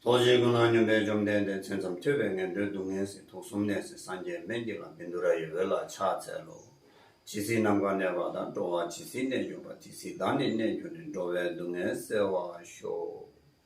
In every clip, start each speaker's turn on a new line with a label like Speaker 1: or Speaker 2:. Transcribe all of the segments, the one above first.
Speaker 1: རྡོ་རྗེ་ཀུན་སྣང་སྙོམས་པས་བཅོམ་ལྡན་འདས་མཚན་ཙམ་ཐོས་པས་ངན་འགྲོའི་སྡུག་བསྔལ་ཟིན་ཐོ་གསུམ་གནས་སའི་སངས་རྒྱས་སྨན་གྱི་ལམ་བིན་དུ་ར་ཡི་འོད་ལ་ཕྱག་འཚལ་ལོ། ཇི་སྲིད་ནམ་མཁའ་གནས་པ་དང་འགྲོ་བ་ཇི་སྲིད་གནས་གྱུར་པ་དེ་སྲིད་བདག་ནི་གནས་གྱུར་ནས་འགྲོ་བའི་སྡུག་བསྔལ་བསལ་བར་ཤོག།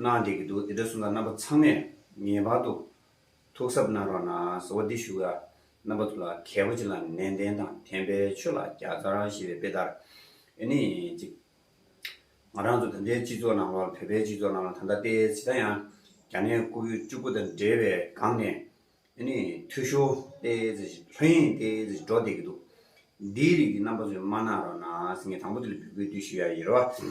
Speaker 1: གནང་བསྡད་ཀྱི་འདུག་དེ་འདྲ་གསུངས་ན་རྣམ་པ་ཚང་མས་ངེས་པར་དུ་ཐུགས་གཟབ་གནང་རོགས་གནང་ཟེར་བ་འདི་ཞུ་ཡ། རྣམ་པ་དུ་ལ་གལ་པོ་ཅིག་ལ་ནན་ཏན་དང་དན་པའི་ཆོས་ལ་རྒྱ་མཚར་ཞེས་པའི་དཔེ་ལྟར་ཨེ་ནི་ཅིག། ང་རང་ཚོ་ད་ལྟའི་སྤྱི་ཚོགས་ནང་ལ་བོད་པའི་སྤྱི་ཚོགས་ནང་ལ་ད་ལྟ་དཔེ་ཇི་ལྟ་ཡང་རྒྱ་ནད་ཀོ་བོད་བཅུ་དགུ་དང་འབྲེལ་བའི་སྒང་ནས་ཨེ་ནི་འཐུས་ཤོར་ཏེ་ལྷོད་གཡེང་ཏེ་འགྲོ་བསྡད་ཀྱི་འདུག་འདིའི་རིགས་ཀྱི་རྣམ་པ་ཚོས་མ་གནང་རོགས་གནང་ཟེར་ངས་དང་པོ་དེ་ལ་འབུལ་དགོས་དུས་ཞུ་ཡ་ཡིན་རོགས།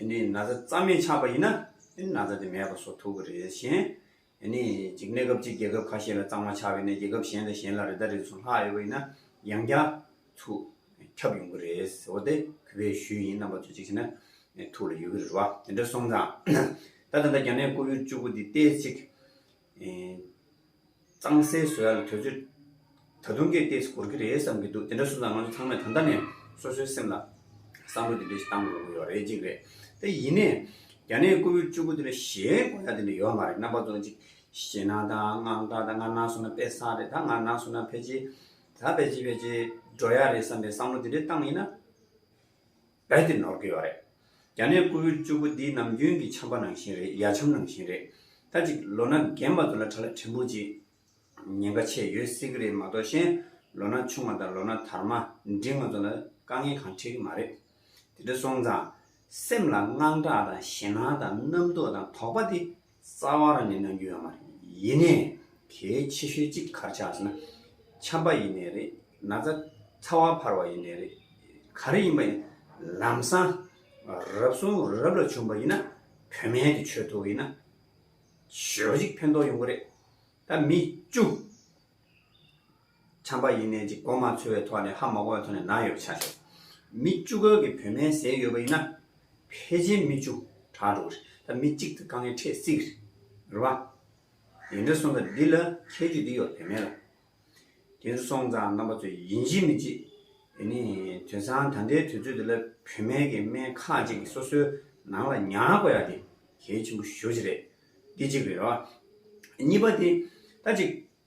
Speaker 1: ནི་ན་བཟའ་རྩ་མེད་ཆགས་པ་ཡིན་ན་ནི་ན་བཟའ་དེ་མེད་པ་སོགས་ཐུག་གི་རེད་གཞན། ནི་གཅིག་གནས་སྐབས་གཅིག་རྒྱལ་ཁབ་ཁ་ཤས་ལ་གཙང་མ་ཆགས་པའི་གནས་རྒྱལ་ཁབ་གཞན་དང་གཞན་ལ་རི་དྭགས་རིགས་སུ་ལྷག་ཡོད་པ་ཡིན་ན་ཡང་བསྐྱར་ཐུག་ཁྱབ་ཡོང་གི་རེད་ཟེར་བ་དེ་གུས་པས་ཞུས་ཡིན་རྣམ་པ་ཚོས་གཅིག་བྱས་ན་ཐུགས་ལ་ཡོད་ཀྱི་རེད་བ། དེ་འདྲ་སོང་ཙང། ད་ད་ལྟ་རྒྱ་ནད་ཀོ་བོད་བཅུ་དགུ་འདི་བལྟས་ཚེ། གཙང་སེལ་བཟོ་ཡ་ལ་དོལ་ཚོས་ད་དུང་གི་ལྟས་སུ་གོར་གི་རེད་བསམ་གི་འདུག་དེ་འདྲ་སོང་ཙང་ང་ཚོ་ཚང་མས་ད་ལྟ་ནས་སོ་སོའི་སེམས་ལ་བསམ་བློ་དེ་འདྲ་ཞིག་བཏང་དགོས་ཀྱི་ཡོད་རེད་གཅིག་རེད་དེ་ཡིན་ནས་རྒྱ་ནད་ཀོ་བོད་བཅུ་དགུ་དེ་འདྲ་གཞན་གོ་ཡ་དེ་འདྲ་ཡོད་མ་རེད་རྣམ་པ་ཙོག་ཅིག་ཞེ་ན་ད་ང་ད་ད་ང་ན་སོང་ན་དཔེ་བཟང་རེད་ད་ང་ན་སོང་ན་ཕལ་ཆེ་ད་ཕལ་ཆེ་ཕལ་ཆེ་འགྲོ་ཡ་རེད་བསམ་པའི་བསམ་བློ་དེ་འདྲ་བཏང་ཡིན་ན། རྦད་དེ་ནོར་གི་ཡོད་རེད། རྒྱ་ནད་བཀུར་འོས་བཅུ་དགུ་འདི་ནམ་རྒྱུན་གྱི་འཆམ་པ་ནང་བཞིན་རེད་ཡ་འཆམ་ནང་བཞིན་རེད། ད་ཅིག་ལོ་ན་རྒན་པ་དུ་ལ་ཁྲ་ལ་ཕྲན་བུ་ཅིག་ཉེན་ཁ་ཆེ་ཡོད་སྲིད་གི་རེད་མ་གཏོགས་གཞན་ལོ་ན་ཆུང་བ་དང་ལོ་ན་དར་མ་འདི་ང་ཚོ་ལ་དཀའ་ངལ་གང་འཕྲད་གི་མ་རེད། དེ་འདྲ་སོང་ཙང་སེམས་ལ་དངངས་སྐྲག་དང་ཞེ་སྣང་དང་རྣམ་རྟོག་དང་དོགས་པ་དེ་རྩ་བ་རང་ཉིད་གནང་རྒྱུ་ཡང་མ་རེད། ཡིན་ནས་གལ་ཆེ་ཤོས་གཅིག་གར་ཆགས་ཟེར་ན། འཁྱམས་པ་ཡིན་ནས་རེད། ན་ཚ་ཚ་བ་འཕར་བ་ཡིན་ནས་རེད། ག་རེ་ཡིན་པ་ཡིན། ལམ་སང་རབ་གསུམ་རབ་ལ་བྱུང་བ་ཡིན་ན། བོད་སྨན་གྱི་ཆོས་ཐོག་ཡིན་ན། ཞོ་གཅིག་ཕན་ཐོགས་ཡོང་གི་རེད། ད་མི་བཅུ། ཆམ་པ་ཡིན་ནའི་ཅིག་གོ་མ་ཚོལ་བའི་ཐོག་ནས་ཧ་མ་གོ་བའི་ཐོག་ནས་ན་ཡོད་བྱ་ཆོག། མི་བཅུ་ཁ་གི་བུད་མེད་ཟས་ཡོད་པ་ཡིན་ན། ཕལ་ཆེར་མི་བཅུ་གྲགས་འགྲོ་གི་རེད་ད་མི་གཅིག་དང་དཀའ་ངལ་འཕྲད་སྲིད་གི་རེད། རེད་བ། དེ་འདྲ་སོང་ཙང་འདི་ལ་ཁྱད་ཆོས་འདི་ཡོད་བུད་མེད་ལ། དེ་འདྲ་སོང་ཙང་རྣམ་པ་ཚོས་ཡིན་གཅིག་མིན་གཅིག། དེ་ནི་དུས་སང་ད་ལྟའི་དུས་ཚོད་འདི་ལ་བུད་མེད་ཀྱི་དམན་ཁག་ཅིག་གིས་སོ་སོའི་ནང་ལ་ཉར་དགོས་ཡག་དེ་གལ་ཆེན་པོ་ཞོ་གཅིག་རེད། འདི་གཅིག་རེད་རེད་བ། གཉིས་པ་དེ་ད་ཅིག་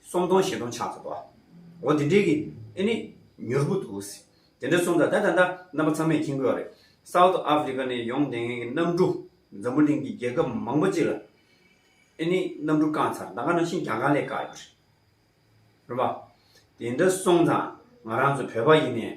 Speaker 1: སོམ་སྟོང་བཞི་སྟོང་ཆགས་སོ། འོ་དེ་འདྲའི་གི་ཨེ་ནི་མྱུར་པོ་འདུག། དེ་འདྲ་གསུངས་ད་ད་ད་ད་རྣམ་པ་ཚང་མས་མཁྱེན་དགོས་བ་རེད། South Africa ནས་ཡོང་བསྡད་མཁན་གི་གནམ་གྲུ་འཛམ་བུ་གླིང་གི་རྒྱལ་ཁབ་མང་པོ་གཅིག་ལ་ཨེ་ནི་གནམ་གྲུ་བཀང་ཚར་ད་ག་ནང་ཤིན་ཀྱང་གང་ལས་བཀག་ཡོད་པ་རེད། རེད་པ། དེ་འདྲ་གསུངས་ཙང་ང་རང་ཚོ་བོད་པ་ཡིན་ནས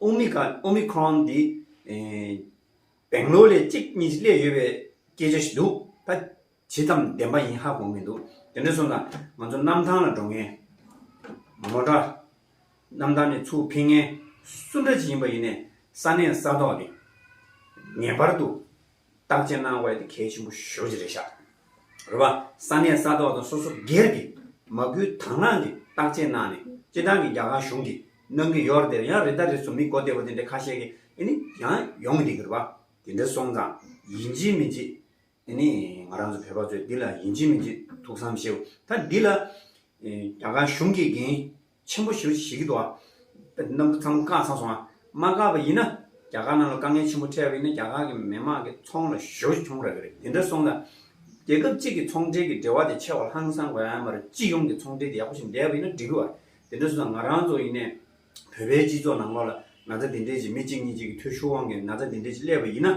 Speaker 1: Omicron འདི་སྦེང་ལོར་ལས་གཅིག་གཉིས་བསླེབས་ཡོད་པའི་སྐད་ཆ་ཞིག་འདུག་ད་ཇི་ཙམ་བདེན་པ་ཡིན་ཧ་གོ་མི་འདུག་དེ་འདྲ་སོང་ན་ང་ཚོ་གནམ་ཐང་ལ་འགྲོ་ངན། ངོ་དྲ། གནམ་ཐང་ནས་ཚུར་འཕེན་ངན། སུ་འདྲ་ཅིག་ཡིན་པ་ཡིན་ནས་ས་གནས་ས་ཐོག་གི་ངེས་པར་དུ་བརྟག་དཔྱད་གནང་བས་དེ་གལ་ཆེན་པོ་ཞོག་ཅི་རེད་ཤག་རེད་བ། ས་གནས་ས་ཐོག་དང་སོ་སོ་སྒེར་གྱི་མ་སྐུལ་དང་བླངས་ཀྱི་བརྟག་དཔྱད་གནང་ནས་སྤྱི་བཏང་གི་རྒྱ་གར་གཞུང་གི་གནང་གི་ཡོར་དེར་ཡང་རེ་ད་རེ་སུ་མི་གོ་བདེ་བོ་དེ་འདྲའི་ཁ་ཤས་ཀྱི་ཨེ་ནི་ཡང་ཡོང་གི་འདུག་གི་རེད་བ། དེ་འདྲ་སོང་ཙང་ཡིན་གཅིག་མིན་གཅིག་ཨེ་ནི་ང་རང་ཚོ་བོད་པ་ཚོས་འདི་ལ་ཡིན་གཅིག་མིན་གཅིག་ཐུགས་བསམ་བཞེས། ད་འདི་ལ་རྒྱ་གར་གཞུང་གིས་འགན་ཆེན་པོ་ཞུ་ཞིག་གི་འདུག་ཨ། ནམ་བུ་ཚང་བཀག་ཚར་སོང་ཨ། མ་བཀག་པ་ཡིན་ན། རྒྱ་གར་ནང་ལ་དཀའ་ངལ་ཆེན་པོ་འཕྲད་པ་ཡིན་ན་རྒྱ་གར་གྱི་མི་མང་གི་ཚོང་ལ་ཞོ་གྱོང་རག་གི་རེད་དེ་འདྲ་སོང་ན། རྒྱལ་ཁབ་གཅིག་གི་ཚོང་འབྲེལ་གྱི་འབྲེལ་བ་དེ་ཆེ་བ་ལྷང་སང་དགོས་ཨ་མ་རེད་སྤྱི་ཡོངས་ཀྱི་ཚོང་འབྲེལ་དེ་ཡག་པོ་ཞིག་འདས་པ་ཡིན་ན་འགྲིག་གི་ཨ། དེ་འདྲ་སོང་ན་ང་རང་ཚོ་ཡིན་ནས། བོད་པའི་སྤྱི་ཚོགས་ནང་ལོགས་ལ་ན་ཚ་དེ་འདྲས་ཀྱི་མི་གཅིག་གཉིས་གཅིག་གི་ཐོད་ཤུར་དབང་གིས་ན་ཚ་དེ་འདྲས་ཀྱི་སླེབས་པ་ཡིན་ན།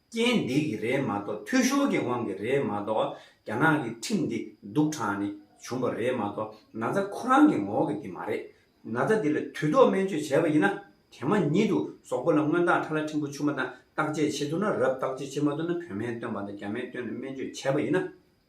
Speaker 1: རྐྱེན་འདི་གི་རེད་མ་གཏོགས་འཐུས་ཤོར་གྱི་དབང་གི་རེད་མ་གཏོགས་རྒྱ་ནག་གི་ཁྲིམས་འདི་སྡུག་དྲག་ནས་བྱུང་བ་རེད་མ་གཏོགས་ན་ཚ་ཁོ་རང་གི་ངོ་བོ་གི་འདི་མ་རེད། ན་ཚ་འདི་ལ་དུས་ཐོག་སྨན་བཅོས་བྱས་པ་ཡིན་ན་དེ་མ་ཉིད་དུ་ཟོག་པོ་ལ་སྔོན་བརྟག་ཁྲ་ལ་ཕྲན་བུ་ཆུ་མ་དང་བརྟག་དཔྱད་བྱེད་ཐུབ་ན་རབ་བརྟག་དཔྱད་བྱེད་མ་ཐུབ་ན་བོད་སྨན་སྟོན་པ་དང་རྒྱ་སྨན་སྟོན་ནས་སྨན་བཅོས་བྱས་པ་ཡིན་ན།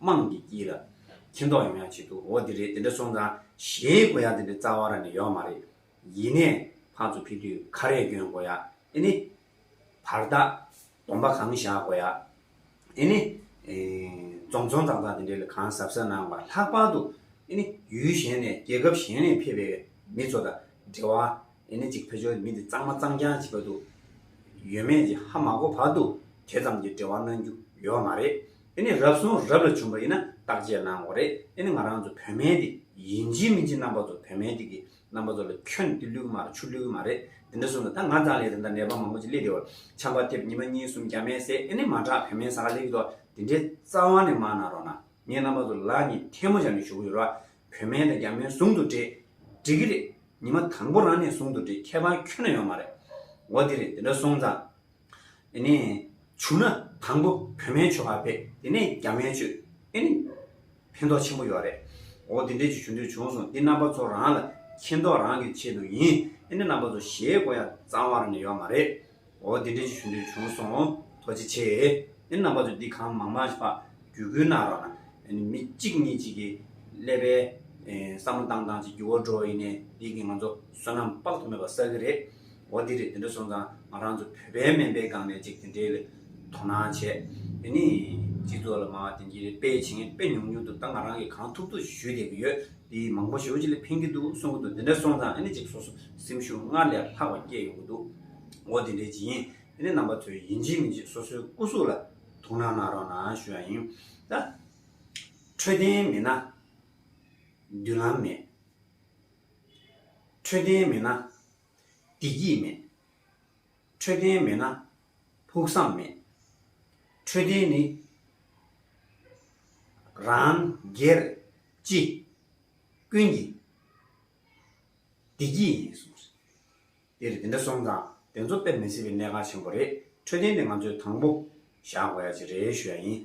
Speaker 1: དམངས་ཀྱི་དཀྱིལ་ལ་ཁྱི་མདོག་ཡང་ཡང་བྱེད་དུ་འོ་དེ་རེད་དེ་འདྲ་སོང་ཙང་གཞན་དགོ་ཡག་དེ་འདྲ་རྩ་བ་ར་ནས་ཡོག་མ་རེད་ཡིན་ནས་ཕག་ཚོ་ཕི་དུས་ཁ་རས་གྱོན་དགོ་ཡག་ཨེ་ནི། བར་ཐག་དོམ་པ་གང་བཞག་དགོ་ཡག་ཨེ་ནི། རྫོང་ཚོང་ཙག་ཙག་དེ་འདྲའི་ལ་གང་ཟབ་ཟབ་གནང་བ་ལྷག་པར་དུ་ཨེ་ནི་ཡུལ་གཞན་ནས་རྒྱལ་ཁབ་གཞན་ནས་ཕེབས་པའི་མི་ཚོ་དང་འབྲེལ་བ་ཡིན་ནི་ཅིག་བོད་ཆོལ་མི་འདི་གཙང་མ་གཙང་རྐྱང་བྱེད་པ་འདུག་ཡོད་མེད་ཀྱི་ཧ་མ་གོ་བར་དུ་དེ་ཙམ་གྱི་འབྲེལ་བ་གནང་རྒྱུ་ཡོད་མ་རེད་དེ་ནི་རབ་གསུངས་རབ་ལ་བྱུང་བ་ཡིན་ན་བརྟག་དཔྱད་གནང་འོ་རེད་དེ་ནི་ང་རང་ཚོ་བོད་མའི་འདི་ཡིན་གཅིག་མིན་གཅིག་རྣམ་པ་ཚོ་བོད་མའི་འདི་གི་རྣམ་པ་ཚོ་ལ་ཁྱོད་འདི་ལུས་མ་རེད་ཆུ་ལུས་མ་རེད་དེ་འདྲ་གསུངས་ན་ད་ང་ཙང་ལས་དེ་འདྲ་ནད་པ་མང་པོ་ཅིག་སླེབས་བདེ་བར་ཆམ་པ་ཐེབས་ཉི་མ་གཉིས་གསུམ་བརྒྱ་མེད་ཟེར་ཨེ་ནི་མ་དྲག་བོད་མའི་ཟ་ཁ་ལེགས་འགྲོ་དེ་འདྲའི་རྩ་བ་ནས་མ་གནང་རོགས་གནང་ངས་རྣམ་པ་ཚོ་ལ་ནི་ཐལ་མོ་བཞག་ནས་ཞུ་གི་ཡོད་ར་བོད་སྨན་དང་རྒྱ་སྨན་ཟུང་དུ་འབྲེལ། འགྲིག་གི་རེད། ཉི་མ་དང་པོ་རང་ནས་ཟུང་དུ་འབྲེལ་ཁྱད་པར་ཁྱོན་ན་ཡོད་མ་རེད། འོ་དེ་རེད་དེ་འདྲ་སོང་ཙང། དེ་ནས། བྱུང་ན། དང་པོ་བོད་སྨན་བྱོས་ཁ་བེད་དེ་ནས་རྒྱ་སྨན་བྱོས། ཨེ་ནི། ཕན་ཐོག་ཆེན་པོ་ཡོད་རེད། འོ་དེ་འདྲས་ཅིག་ཞུ་འདོད་བྱུང་སོང་འདི་རྣམ་པ་ཚོ་རང་ལ་མཁྱེན་རྟོགས་རང་གིས་བྱེད་དུ་ཡིན་ཨེ་ནི་རྣམ་པ་ཚོ་ཞེད་གོ་ཡ་གཙང་བར་ནི་ཡོད་མ་རེད། འོ་དེ་འདྲའི་ཞུ་འདོད་བྱུང་སོང། ཐོ་ཅི་ཆེ། ཨེ་རྣམ་པ་ཚོ་འདི་གང་མང་མང་བ་རྒྱུད་སྐུལ་གནང་རོགས་གནང། མི་གཅིག་གཉིས་གཅིག་གིས་ཀླད་པའི་བསམ་བློ་བཏང་བཏང་ཅིག་རྒྱུ་བོ་འགྲོ་ཡིན་ནའི་ཡིག་གིས་ང་ཚོ་བསོད་ནམས་དཔག་ཏུ་མེད་པ་བསགས་ཀྱི་རེད། འོ་དེ་རེད་དེ་འདྲ་སོང་ཙང་ང་རང་ཚོ་བོད་པའི་སྨན་པའི་སྒང་ནས་ཅིག་དེ་འདྲའི་ལས་དོ་སྣང་བྱས། དེ་ནི་སྤྱི་ཚོགས་ལ་མང་བ་དེ་འདྲའི་དཔེ་བྱེད་མཁན་དཔེ་ཉུང་ཉུང་འདུག་ད་ང་རང་གིས་གང་ཐུབ་ཐུབ་ཞུས་བསྡད་ཀྱི་ཡོད། དེ་མང་པོ་ཞེ་བོ་ཅིག་ལས་ཕན་གྱི་འདུག་གསུང་གི་འདུག་དེ་འདྲ་སོང་ཙང་ཨེ་ནས་ཅིག་སོ་སོ་སེམས་ཤུགས་སྔར་ལས་ལྷག་པ་སྐྱེད་ཡོང་གི་འདུག། འོ་དེ་འདྲའི་བྱིན་ཡིན་ནི་རྣམ་པ་ཚོས་ཡིན་གཅིག་མིན་གཅིག་སོ་སོའི་སྐུ་གཟུགས་ལ་དོ་སྣང་གནང་རོགས་གནང་ཞུ་བ་ཡིན། ད་འཕྲོད་བསྟེན་མེད་ན་མདུན་ལམ་མེད། འཕྲོད་བསྟེན་མེད་ན་བདེ་སྐྱིད་མེད། འཕྲོད་བསྟེན་མེད་ན་ཕུགས་བསམ་མེད། འཕྲོད་བསྟེན་ནི་རང་སྒེར་སྤྱི་ཀུན་གྱི་བདེ་སྐྱིད་ཡིན། འདིར་འདི་འདྲ་སོང་ཙང་དེ་ཚོ་དཔེར་མི་སྲིད་པའི་གནད་འགག་ཆེན་པོ་རེད་འཕྲོད་བསྟེན་དེ་ང་ཚོས་དང་པོ་བཞག་དགོས་ཡ་ཅི་རེད་ཞུ་ཡ་ཡིན།